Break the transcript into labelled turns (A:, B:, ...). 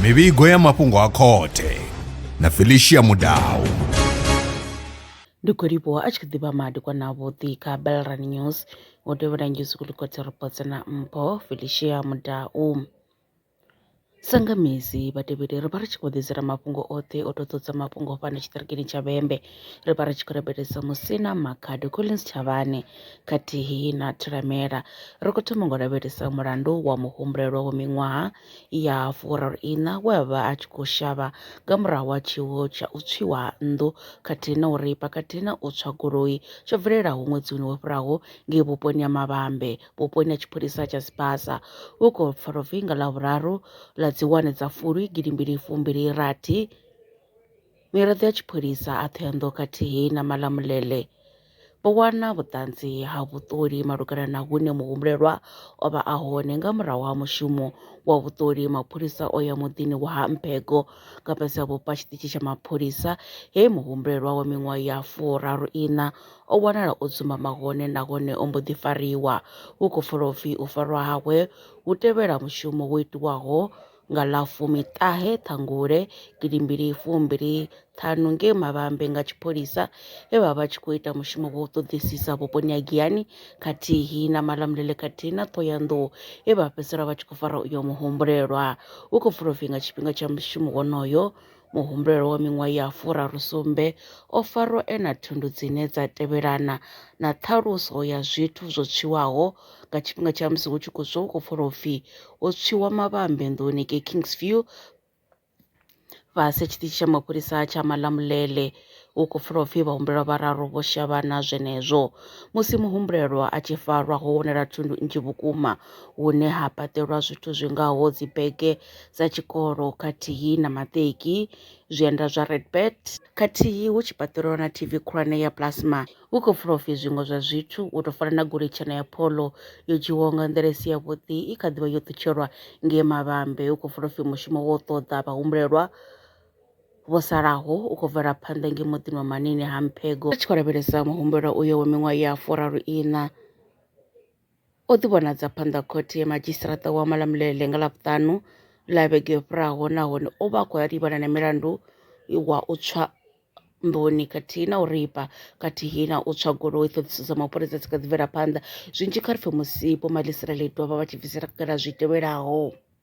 A: mivhigo ya mafhungo a khothe na felicia mudau
B: ndi khou livhuwa a tshi kha ḓivha madi kwana vhuḓi kha belran news wo tevhela njuzukulikotsi reports na mpho felicia mudau Sa nga misi vhatevheli ri vha ri tshi khou ḓidzela mafhungo oṱhe o to ṱohadza mafhungo fhano tshiṱirikini tsha Vhembe ri vha ri tshi khou rabelisa musina Makhado Collins Tshavhane khathihi na Thulamela. Ri kho thoma ngo lavhelesa mulandu wa muhumbulelwa wa miṅwaha ya furaru iṋa we a vha a tshi khou shavha nga murahu ha tshiwo tsha u tswiwa ha nnḓu khathihi na uri pakati na u tswa goloi tsho bvelelaho ṅwedzini wo fhiraho ngei vhuponi ha Mavhambe vhuponi ha tshipholisa tsha Sibasa hu khou pfa luvhi nga Ḽavhuraru ḽa dzi wane dza Fulwi gidi mbili fumbili rathi. Miraḓo ya tshipholisa a Thohoyandou khathihi na Malamulele vho wana vhuṱanzi ha vhuṱoli malugana na hune muhumbulelwa o vha a hone nga murahu ha mushumo wa vhuṱoli mapholisa o ya muḓini wa ha Mphego nga fhasi ha vhupo ha tshiṱitshi tsha mapholisa he muhumbulelwa wa miṅwaha ya furaru iṋa O wanala o dzumbama hone nahone o mbo ḓi fariwa. Hu khou pfala u pfi u farwa hawe hu tevhela mushumo wo itiwaho nga ḽa fumiṱahe Ṱhangule gidimbili fumbili ṱhanu ngei Mavhambe nga tshipholisa he vha vha tshi khou ita mushumo wa u ṱoḓisisa vhuponi ha Giyani khathihi na Malamulele khathihi na Ṱhohoyanḓou he vha fhedzisela vha tshi khou fara uyo muhumbulelwa. Hu khou pfala u pfi nga tshifhinga tsha mushumo wonoyo Muhumbulelwa wa miṅwaha ya furarusumbe o farwa e na thundu dzine dza tevhelana na ṱhaluso ya zwithu zwo tswiwaho nga tshifhinga tsha musi hu tshi khou swa hu khou pfala upfi ho tswiwa mavhambe nḓuni ngei Kingsview fhasi ha tshiṱitshi tsha mapholisa tsha Malamulele Hu khou pfala u pfi vhahumbulelwa vhararu vho shavhana zwenezwo. Musi muhumbulelwa a tshi farwa, ho wanala thundu nnzhi vhukuma hune ha paṱelwa zwithu zwi ngaho dzibege dza tshikolo khathihi na maṱeki, zwienda zwa Redbert khathihi hu tshi paṱelwa na TV khulwane ya plasma. Hu khou pfala u pfi zwiṅwe zwa zwithu u tou fana na goloi tshena ya Polo yo dzhiiwaho nga nḓila i si yavhuḓi i kha ḓi vha yo ṱutshelwa ngei Mavhambe. Hu khou pfala u pfi mushumo wa u ṱoḓa vhahumbulelwa vho salaho u khou bvela phanḓa nge muḓini wa manini ha mphego a tshi khou lavhelesa muhumbelo uyo wa miṅwaha ya furaru ina o ḓi vhonadza phanḓa khothe ya madzhisiṱiraṱa wa malamulele nga ḽavhuṱanu ḽa vhege yo fhiraho nahone o vha a khou livhana na milandu wa u tswa nḓuni khathihi na u ripa khathihi na u tswa goloi ṱhoḓiso dza mapholisa dzi kha ḓi bvela phanḓa zwinzhi kha ri pfhe musipo malisirele dovha vha tshi bvisela khagala zwi tevhelaho